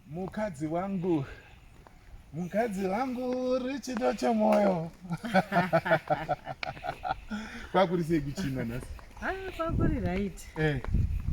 Mukadzi wangu. Mukadzi wangu uri chido chemoyo. Kwakuri sei kuchina nhasi? Ah, kwakuri right. Eh.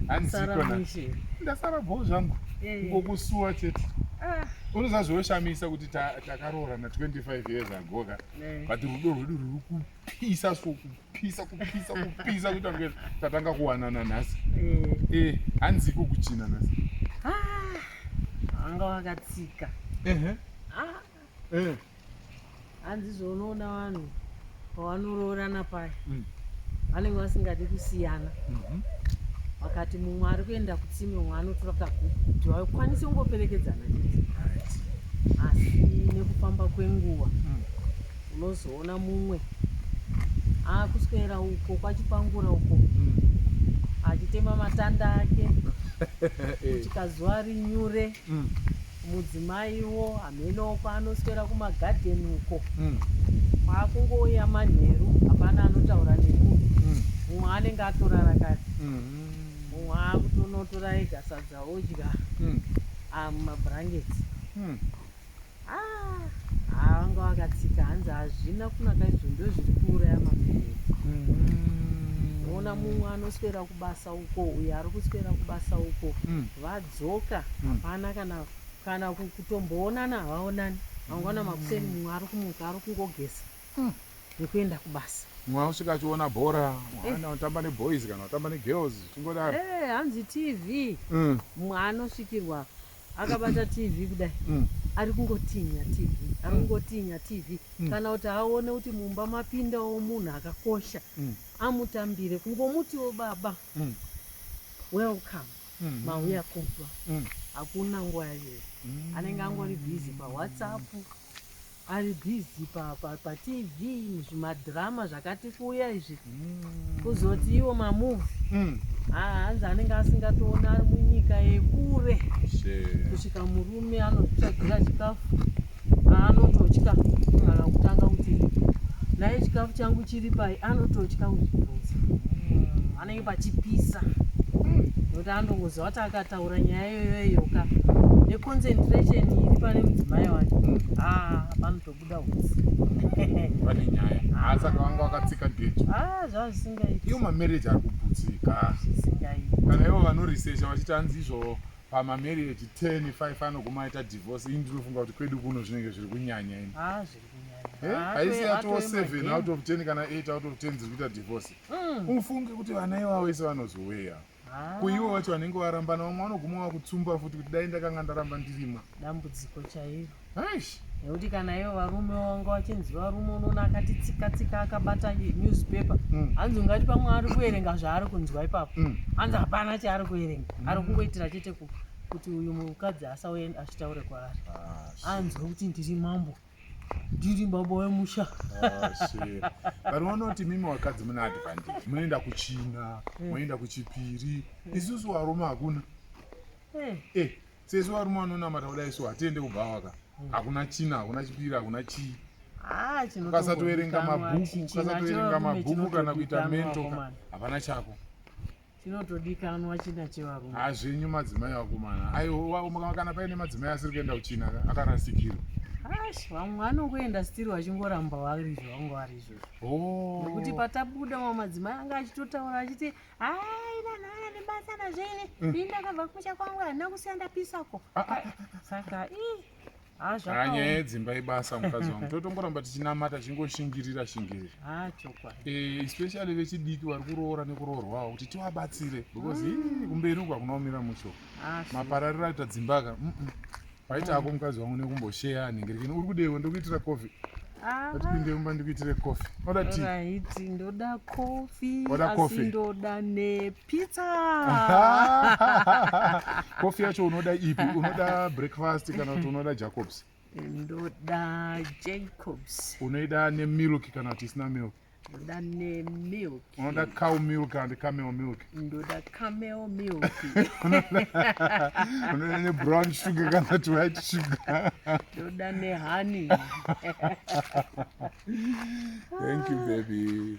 Handisiko nhasi. Ndasara bho zvangu. Eh. Ngokusuwa chete. Ah. Unoziva zvinoshamisa kuti takaroorana 25 years ago ka. Eh. But rudo rwedu ruri kupisa so kupa. kupisa kupisa kupisa kuita kunge tatanga kuwanana nhasi eh. eh hanzi iko kuchina nhasi ah, anga wakatsika ah. eh. hanzi zvonoona vanhu pavanoroorana paya mm. vanenge vasingadi kusiyana mhm. vakati mumwe ari kuenda kutsime umwe anotora kaguku kuti vakwanise kungoperekedzana chete asi nekufamba kwenguva mm. unozoona mumwe akuswera uko kwachipangura uko mm. achitema matanda ake chikazuva rinyure mm. mudzimaiwo hamenowo kwaanoswera kumagadheni uko mm. kwaakungouya manheru hapana anotaura neku mumwe anenge atorara kare mumwe akutonotora ega sadza odya amumabhurangeti vakatsika hanzi hazvina kunaka izvo ndo zviri kuuraya mamereri mm-hmm. ona mumwe anoswera kubasa uko uyo ari kuswera kubasa uko mm. vadzoka mm. hapana kana kana kutomboonana havaonani vangwana mm. makuseni mumwe ari kumuka ari kungogesa nekuenda kubasa mumwe anosvika achiona bhora eh. ana otamba neboys kana otamba negirls chingodaro eh, hanzi tv mumwe anosvikirwa akabata tv kudai mm. ari kungotinya tv ari mm. kungotinya tv mm. kana kuti aone kuti mumba mapindawo munhu akakosha mm. amutambire kungomutiwo baba mm. welcome mm -hmm. mauya kubva mm. hakuna nguva yayo mm. anenge angori bhizi pawhatsapp ari busy pa, pa, pa tv zvimadrama zvakati kuuya izvi mm. kuzoti iwo mamuvi mm. hanzi anenge asingatoona ari munyika yekure kusvika murume anozvitsvagira chikafu anototya kana kutanga kuti naye chikafu changu chiri pai anototya kuzvibvunza mm. anenge pachipisa nekuti anongoziva kuti taura nyaya yoyoyo ka neconcentration iri pane mudzimai wake hmm. ah, panotobuda usi pane nyaya asaka ah, vanga vakatsika geji ah, zvazvisingaiti iyo mamarriage ari kuputsika kana ivo vanorisesha vachiti anzi izvo pamamarriage ten five anoguma aita divorce ini ndinofunga kuti kwedu kuno zvinenge zviri kunyanya ini haisi atoo seven out of ten kana eight out of ten dziri kuita divorce hmm. ufunge kuti vana ivavo ise vanozoweya Ah. kuivo vacho vanenge varambana vamwe vanoguma vakutsumba futi kuti dai ndakanga ndaramba ndirima dambudziko chairo aish nekuti kana ivo varume vanga vachinzi varume unoona akati tsika tsika akabata newspaper Mm. hanzi ungati pamwe ari kuverenga zvaari kunzwa ipapo Mm. hanzi hapana chaari kuverenga ari kungoitira chete ku- kuti uyu mukadzi asauye achitaure kwaari Ah, anzwe kuti ndiri mambo ndiri baba wemusha vanhu ah, vanoti mimi vakadzi mune advantage munoenda kuchina eh. moenda kuchipiri eh. isusu varume hakuna eh. eh sesu varume vanonamata kuda isu hatiende kubhawaka hakuna china hakuna chipiri hakuna chii ah, ukasatoverenga mabhuku ukasatoverenga mabhuku kana kuita mento hapana chako chinotodikanwa china chevarume hazvinyu madzimai vakomana aiwa kana paine madzimai asiri kuenda kuchina akarasikirwa ash vamwe anongoenda stiri vachingoramba varizvo vangu varizvo oh. nokuti patabuda mamwe madzimai anga achitotaura achiti aina naya nebasa nazvene mm. ini ndakabva kumusha kwangu handina kusiya ndapisako ah, ah, ah, saka ii Ah, zvakaoma. Ah, nyaya yedzimba ibasa mukadzi wangu totongoramba tichinamata tichingoshingirira shingirira ah, eh, especially vechidiki vari kuroora nekuroorwawo kuti tivabatsire because mm. kumberi uku akunaomira mucho ah, maparariro aita dzimbaka mm -mm. paita ako mukadzi wangu nekumbosheya anenge rikini uri kudewo ndokuitira coffee atipinde mumba ndikuitire coffee oda ti ndoda coffee asi ndoda nepi pizza kofi yacho unoda ipi unoda breakfast kana kuti unoda jacobs ndoda jacobs unoida nemilk kana kuti isina milk ndoda nemilk unoda cow milk kana kuti camel milk ndoda camel milk unoda nebrown sugar kana kuti white sugar ndoda nehoney thank you baby